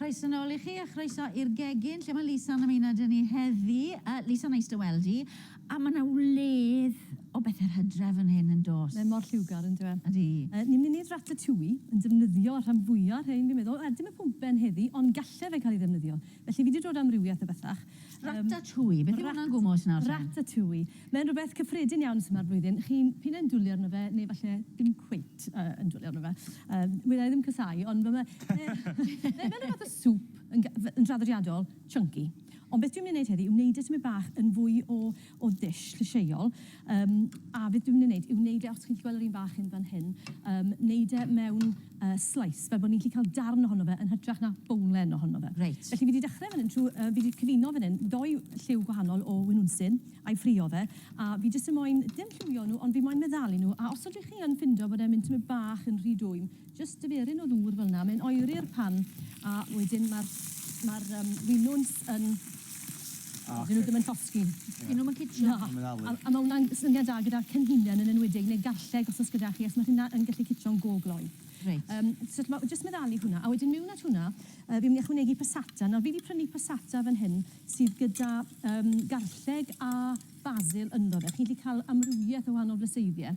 Croeso nôl i chi a chroeso i'r gegin lle mae Lisa yn ymuno dyn ni heddi. Uh, Lisa, nice to weld i. A mae yna wledd o bethau hydref yn hyn yn dos. Mae mor lliwgar yn dweud. Ydy. Uh, ni'n mynd i wneud ratatouille yn defnyddio rhan fwyaf rhain, fi'n meddwl. Uh, dim y pwmpen heddi, ond gallai fe cael ei ddefnyddio. Felly fi wedi dod amrywiaeth o bethach. Ratatouille, beth yw hwnna'n gwmwl os nawr te? Ratatouille. Mae'n rhywbeth cyffredin iawn tymor blwyddyn. Chi'n p'un ai'n dwli arno fe neu falle ddim cweit yy yn dwli arno fe. Yym, wna i ddim casáu, ond ma' fe yy mae fel ryw fath o soup yn ga- f- yn draddodiadol, chunky. Ond beth dwi'n myn' i neud heddi yw neud e tymed bach yn fwy o o'r dull llysieuol. Yym, a beth dwi'n mynd i wneud yw wneud e, os chi'n gallu gweld yr un fach hyn fan hyn, yym, wneud e mewn yy slice, fel bod ni'n gallu cael darn ohono fe yn hytrach na bowlen ohono fe. Reit. Felly, fi 'di dechrau fan hyn trwy... yy fi 'di cyfuno fan hyn ddou lliw gwahanol o winwnsyn, a'i ffrio fe, a fi jyst yn moyn, dim lliwio nhw, ond fi moyn meddalu nhw, a os ydych chi yn ffindo bod e'n mynd tymed bach yn rhy dwym, Jyst tyferyn o ddŵr fel 'na, mae'n oeri'r pan a wedyn ma'r ma'r yym winwns yn O, ocê. 'dyn nhw ddim yn llosgi. Ie. 'Dyn nhw'm yn cicio. Na. A mae'n ddalu. A a ma' wnna'n syniad da gyda'r cenhinen yn enwedig neu garlleg os o's gyda chi achos ma' rheina yn gallu cicio'n go gloi. Reit. Yym so t'mo' jyst meddalu hwnna a wedyn miwn at hwnna yy fi'n myn' i ychwanegu passata. Nawr fi 'di prynu passata fan hyn sydd gyda yym garlleg a basil ynddo fe. Chi 'llu ca'l amrywieth o wahanol flyseiddie.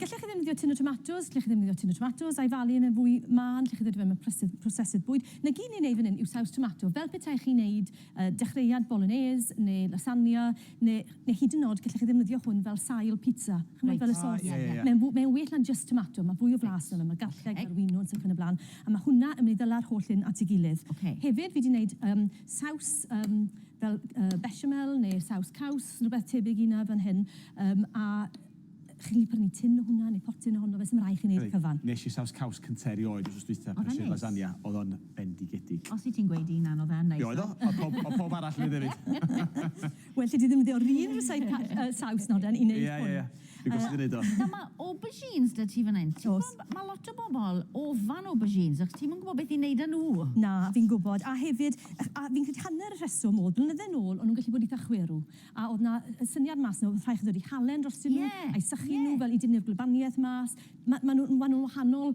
Gellech chi ddefnyddio tun o tomatos, gellech chi ddefnyddio tun o tomatos a'i falu yn yn fwy mân, gellech chi ddod i fewn mewn prosesydd bwyd. Na gyd ni'n ei fan hyn yw saws tomato, fel petai chi'n neud dechreuad bolognese neu lasagna neu neu hyd yn od gellech chi ddefnyddio hwn fel sail pizza, ch'mod fel y sos. Mae'n fwy mae'n well na'n jyst tomato, mae fwy o flas ynddo fe, mae garlleg, mae'r winwns ac yn y bla'n, a mae hwnna yn mynd i ddala'r holl hyn at ei gilydd. Hefyd fi 'di neud saws fel bechamel neu saws caws, rhywbeth tebyg i hynna fan hyn, a Chi'n gallu prynu tin o hwnna neu potyn ohono fe, 'sdim rhaid i chi wneud y cyfan. Wnes i saws caws cyntaf erioed wsos dwytha, prysur lasagna, oedd o'n bendigedig. Os wyt ti'n gweud un anodd a neis. Be oedd o? Oedd pob, oedd pob arall yn neud hefyd. Well 'da ti ddefnyddio'r un ryseit ca- yy saws noden i neud hwn. Ie, ie, ie. Fi gwastad yn neud o. Nawr ma' aubergines 'da ti fan 'yn. O's. Ti'n gwbo ma' lot o bobol ofan aubergines achos ti'm yn gwbo beth i neud â nhw. Na, fi'n gwbod, a hefyd, a fi'n credu hanner y rheswm o'dd, blynydde nôl, o'n nhw'n gallu bod itha chwerw. A oedd 'na y syniad mas 'na, oedd rhai' chi ddod i halen drostyn nhw... Ie. ...a'u sychu nhw fel i dynnu'r gwlybaniaeth mas. Ma' ma' nhw ma' nhw'n wahanol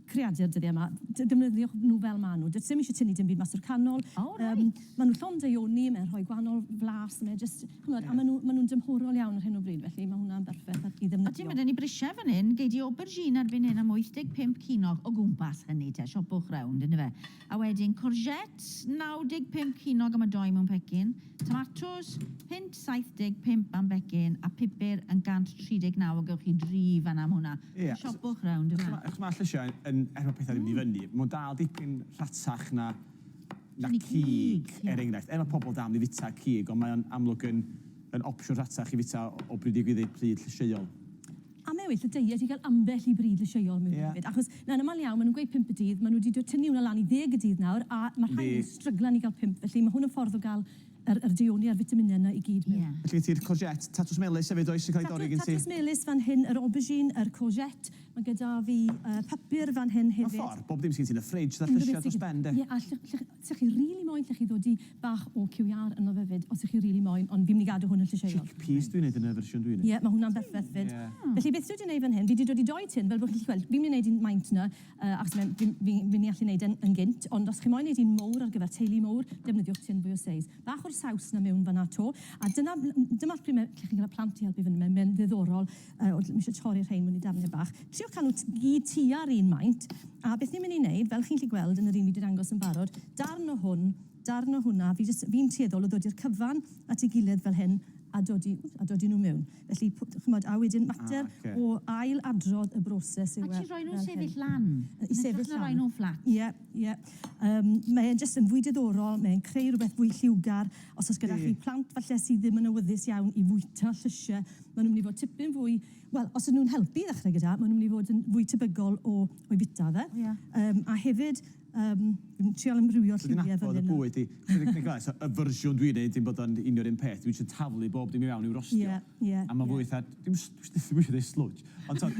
creadur dyddiau 'ma. D- defnyddiwch nhw fel ma' nhw. Does dim isie tynnu dim byd mas o'r canol. O reit. Yym ma' nhw llond daioni, mae'n rhoi gwahanol flas, mae jyst, chimod, a ma' nhw ma' nhw'n dymhorol iawn ar hyn o bryd, felly ma' hwnna'n berffeth ar i ddefnyddio. O ti'n gwbod 'da ni brisiau fan hyn, gei di aubergine erbyn hyn am 85 cinog, o gwmpas hynny te, siopwch rownd yndyfe. A wedyn courgettes, 95 ceiniog am y dou mewn pecyn, tomatos, punt 75 am becyn, a pupur yn 139 a gewch chi dri fan'na am hwnna. Ie. So siopwch rownd yfe? Ch'mo' ch'mo' llysie yn yn er ma' pethe'n mynd i fyny, ma' o'n dal dipyn rhatach na na cig, er enghraifft. Er ma' pobol dal myn' i fita cig, ond mae o'n amlwg yn yn opsiwn rhatach i fita o bryd i bryd pryd llysieuol. A mae well y deiet i gael ambell i bryd lysieuol mewn hefyd. Ie. Achos yn aml iawn maen nhw'n gweud pump y dydd, maen nhw 'di dw- tynnu hwnna lan i ddeg y dydd nawr, a ma' rhai yn stryglan i gael pump, felly ma' hwn yn ffordd o gael yr yr deuoni a'r fitaminau yna i gyd mewn. Ie. Felly gen ti'r courgette, tatws melys hefyd does sy'n cael ei dorri gen ti? Tatws melys fan hyn, yr aubergine, yr courgette, ma' gyda fi yy papur fan hyn hefyd. Mewn ffordd, bob dim sy' gen ti yn y fridge, 'tha llysiau dros ben 'de? Ie, a lly- lly- 'Sech chi rili moyn 'llech chi ddod i bach o QER ynddo fe 'fyd os 'sech chi rili moyn ond fi'n myn' i gadw hwn yn llysieuol. Chickpeas dwi'n neud yn y fersiwn dwi'n neud. Ie ma' hwnna'n berffeth 'fyd. Felly beth dwi 'di neud fan hyn fi 'di dod i doi tin fel bo' chi'n gallu gweld fi'n myn' i neud un maint nawr yy achos mae'n fi'n fi fi'n myn' i allu neud e'n yn gynt ond os chi moyn neud un mowr ar gyfer teulu mowr defnyddiwch tin fwy o seis. Bach o'r saws 'na miwn fan 'na 'to a dyna m- m- dyma lle ma' 'llech chi'n ca'l y plant i helpu fyn 'na mae'n mae'n ddiddorol. Yy o, dwi isio torri rhein mewn i darnau bach. Trio cadw t- i gyd tua'r un maint, a beth ni'n mynd i wneud, fel chi'n gallu gweld yn yr un fi 'di dangos yn barod, darn o hwn, darn o hwnna, fi jyst... fi'n tueddol o ddod i'r cyfan at ei gilydd fel hyn a dodi w- a dodi nhw mewn. Felly, p- chimod, a wedyn mater... Ah, ocê. ...o ail-adrodd y broses yw e fel hyn. Actually, rhoi nhw'n sefyll lan. Yy i sefyll lan. Yn hytrach na rhoi nhw'n fflat. Ie, ie. Yym, mae e'n jyst yn fwy diddorol, mae e'n creu rhywbeth fwy lliwgar. Os oes gyda chi plant, falle, sydd ddim yn awyddus iawn i fwyta llysie, Maen nhw'n mynd i fod tipyn fwy... Wel, os ydyn nhw'n helpu i ddechrau gyda, maen nhw'n mynd i fod yn fwy tebygol o o'i fwyta fe. Ie. Yym, a hefyd, yym, fi'n trial ymrwywio lliwiau fan hyn nawr. So ti'n nabod y bwyd di. Ti'n gallu gweld, so y fersiwn dwi'n neud dim bod o'n union yr un peth, dwi jyst yn taflu bob dim i fewn i'w rostio. Ie, ie, ie. A ma'n fwy fatha, dwi'm yn s- dwi ddim isio neud slwtsh. Ond t'od...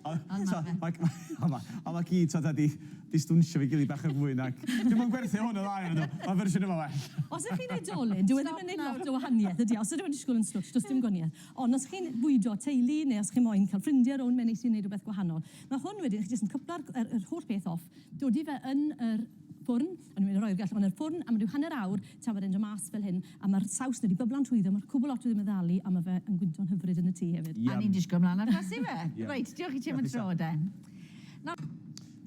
Ond ma' fe. ...t'od, ma' g- ma' o 'ma. Ond ma' ci t'od wedi distawnsio efo'i gilydd bach yn fwy nag... Dwi'm yn gwerthu hwn yn dda iddyn nhw, mae'r fersiwn yma'n well! Os ydych chi'n oedolyn, dyw e ddim yn gwneud lot o wahaniaeth, ydy e? Os ydych yn disgwyl yn swtsh, does dim gwaniaeth. Ond os chi'n bwydo teulu, neu os chi moyn cael ffrindiau rownd, mae'n neis i wneud rhywbeth gwahanol. Mae hwn wedyn, chi jyst yn cyplo'r yr yr holl beth off, dodi fe yn yr ffwrn, o'n i'n mynd i roi'r gallwch yn yr ffwrn am ryw hanner awr, tra bod e'n dod mas fel hyn, a mae'r saws wedi byblo'n trwyddo, mae'r cwbl lot wedi meddalu, a mae fe yn gwyntog hyfryd yn y tŷ hefyd. A ni'n disgwyl mlaen at blasu fe! Reit, diolch i ti am y tro de. Na.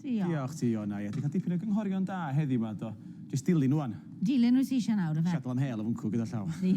Diolch. Diolch ti Iona, ie, ti'n cael dipyn o gynghorion da heddiw 'ma do. Jyst dilyn rwan. Dilyn wyt ti eisiau nawr ife? Settlo am hel o fwncw gyda llaw. Ie.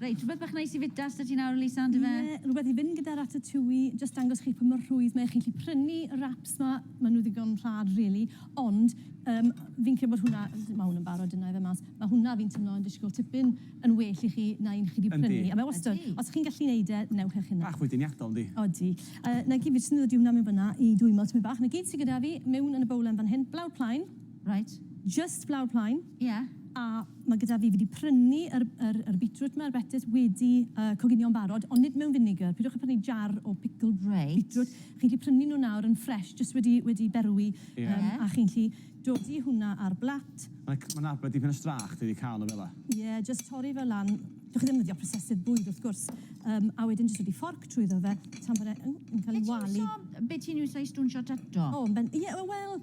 Reit, rhywbeth bach neis i fita s'da ti nawr Lisa on'd yfe? Ie, rhywbeth i fynd gyda ratatouille, jyst dangos chi pa mor rhwydd mae e, chi'n gallu prynu y wraps 'ma, ma' nhw ddigon rhad rili, ond yym fi'n credu bod hwnna, ma' hwn yn barod, dyna i fe mas, ma' hwnna fi'n timlo yn disgwyl tipyn yn well i chi na un chi 'di prynu. Yndi. A mae wastad, os chi'n gallu neud e, newch eich hunan. Bach fwy deniadol, yndi? Odi. Yy, 'na gyd, fi jyst yn dod i hwnna mewn fan 'na i dwymo tipyn bach. 'Na gyd sy gyda fi mewn yn y bowlen fan hyn. Blawd plaen. Reit. Jyst blawd plaen. Ie. A ma' gyda fi, fi 'di prynu yr yr yr beetroot 'ma, yr betys, wedi yy coginio'n barod, ond nid mewn vinegar. Peidiwch â prynu jar o pickled... Reit. ...beetroot. Chi'n gallu prynu nhw nawr yn fresh, jyst wedi wedi berwi. Ie. Yym, a chi'n gallu Dodi hwnna ar blat. Like, mae'n arbed dipyn o strach dydi cael nhw fela? Ie, jyst torri fe lan. Dych chi ddim yn defnyddio prosesydd bwyd wrth gwrs. Yym, a wedyn jyst rhoi fforc trwyddo fe tan bod e yn yn cael ei walu. Be ti'n iwso, be ti'n iwso i stwnsio tato? O, yn ben- ie, wel,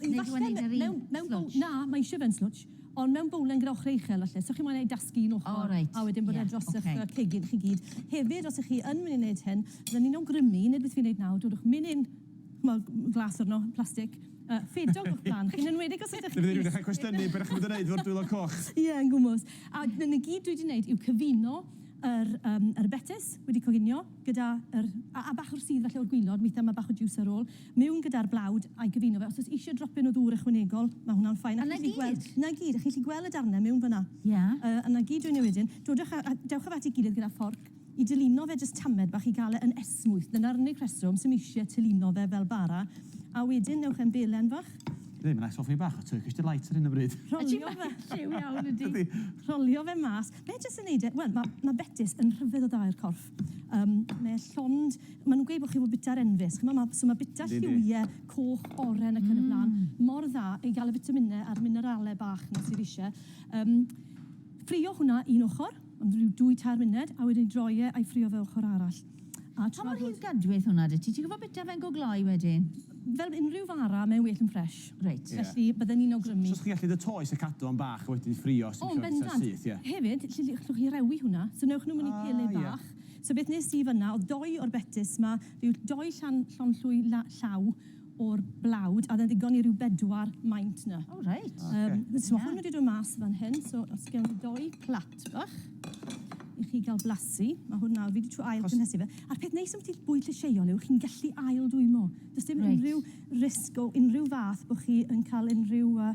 yy falle mewn mewn bowl... Neu dwi'n gwneud e ry slwtsh? Na, mae eisiau fe'n slwtsh, ond mewn bowlen gyda ochrau uchel falle, so chi'n moyn e i dasgu un ochr... O reit. ...a wedyn bod e dros y'ch yy cegin chi gyd. Hefyd, os 'ych chi yn mynd i wneud hyn, byddai'n un awgrymu, nid beth fi'n wneud nawr, dodwch menyn... ch'mod, m- glas arno, plastic, yy ffedog o'ch blaen chi, yn enwedig os ydych chi'n... Dwi mynd i ddechre cwestiynu be' dach chi'n bod yn neud efo'r dwylo coch. Ie, yn gwmws. A 'na 'na gyd dwi 'di neud yw cyfuno yr yym yr betys wedi coginio gyda yr... a a bach o'r sudd falle o'r gwilod, withe ma' bach o jiws ar ôl, miwn gyda'r blawd a'i gyfuno fe. Os o's isie dropyn o ddŵr ychwanegol, ma' hwnna'n ffein. A 'na gyd? A chi 'llu gweld... 'na gyd, a chi 'llu gwel' y darne miwn fan 'na? Ie. Yy a 'na gyd dwi'n neu' wedyn, dodwch a a dewch â fe at 'i gilydd gyda fforc. I dylino fe jyst tamed bach i gael e yn esmwyth. Dyna'r unig reswm sy'm eisiau tylino fe fel bara. A wedyn newch e'n belen fach. Dwi ddim yn ail soffi bach o Turkish Delight ar hyn o bryd. Rholio fe. Lliw iawn ydi. Ydi. Rholio fe mas. Mae jyst yn neud e, wel ma' ma' betys yn rhyfedd o dda i'r corff. Yym mae llond, ma' nhw'n gweud bod chi'n fod bita'r enfys, ch'mo' ma' so ma' bita lliwie coch, oren ac yn y blaen mor dda i gael y fitaminau a'r minerale bach 'na sydd isie. Yym ffrio hwnna un ochr. Ond rhyw dwy tair munud a wedyn droi e a'i ffrio fe ochr arall. A tra bod... Pa mor hir gadweth hwnna da ti? Ti'n gwybod bita fe'n go gloi wedyn? Fel unrhyw fara, mae'n well yn ffresh. Reit. Felly, bydden ni'n awgrymu... So os chi'n gallu de toes a cadw fo'n bach a wedyn ffrio os ti'n gallu bwyta'n syth, ie. O, yn bendant. Hefyd, ll- llwch chi rewi hwnna. So newch nhw mewn i pele bach. So beth wnes i fan'na oedd dou o'r betys 'ma, rhyw dou llan llond llwy la- llaw o'r blawd, a oedd e'n ddigon i ryw bedwar maint 'na. O reit. Ocê. Yym so ma' hwn wedi dod mas fan hyn, so os gewn ni dou plat bach i chi ga'l blasu, ma' hwn nawr, fi 'di trio ail gynhesu fe, a'r peth neis ambyti bwyd llysieuol yw chi'n gallu ail dwymo. Do's dim unrhyw risg o unrhyw fath bo' chi yn ca'l unrhyw yy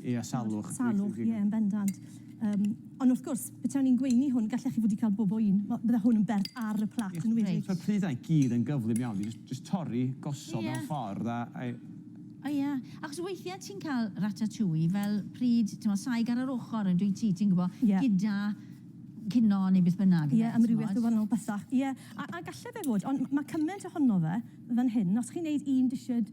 Ia, salwch. Salwch, ie, yn bendant. Um, ond wrth gwrs, betawn i'n gweini hwn, gallech chi fod i cael bob o un. Bydde hwn yn bert ar y plat yn wedi. Mae'r prydau gyd yn gyflym iawn. Just, just torri, gosod yeah. mewn ffordd a... I... O oh, ie, yeah. achos weithiau ti'n cael ratatouille fel pryd, ti'n meddwl, saig ar yr ochr yn dwi ti, ti'n gwybod, yeah. gyda cino neu beth bynnag. Ie, yeah, amrywiaeth o wahanol bethau. Ie, yeah. a, a galle fe fod, ond mae cymaint ohono fe fan hyn, os chi'n neud un disiad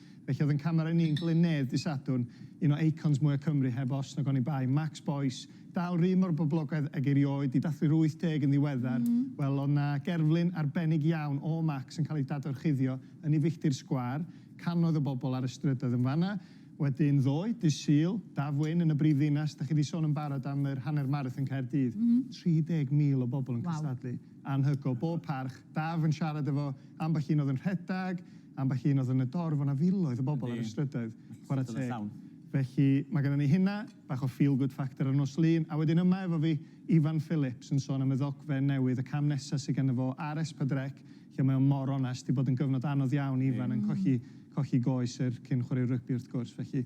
Felly oedd yn camera ni'n Glyn Nedd dy Sadwrn, un o eicons mwya Cymru heb os nag oni bai. Max Boyce, dal rydd mor boblogaidd ag erioed, di dathlu'r 80 yn ddiweddar, wel oedd na gerflun arbennig iawn o Max yn cael ei dadorchuddio yn ei filltir sgwâr, cannoedd o bobl ar y strydoedd yn fanna. Wedyn ddoe, dydd Sul, Daf Wyn yn y brif ddinas, da chi di sôn yn barod am yr hanner marathon Caerdydd, 30,000 o bobl yn cystadlu. Anhygoel. Bob parch. Daf yn siarad efo ambell un oedd yn rhedag, ambell un oedd yn y dorf, o'na filoedd o bobl ar y strydoedd, chwarae teg. Felly, mae gynnon ni hynna, bach o feel good factor ar nos Lun, a wedyn yma efo fi, Ifan Phillips, yn sôn am y ddogfen newydd, y cam nesa sy ganddo fo ar Espadrec, lle mae o mor onest, 'di bod yn gyfnod anodd iawn i Ifan yn colli colli goes er cyn chwarae rygbi wrth gwrs, felly,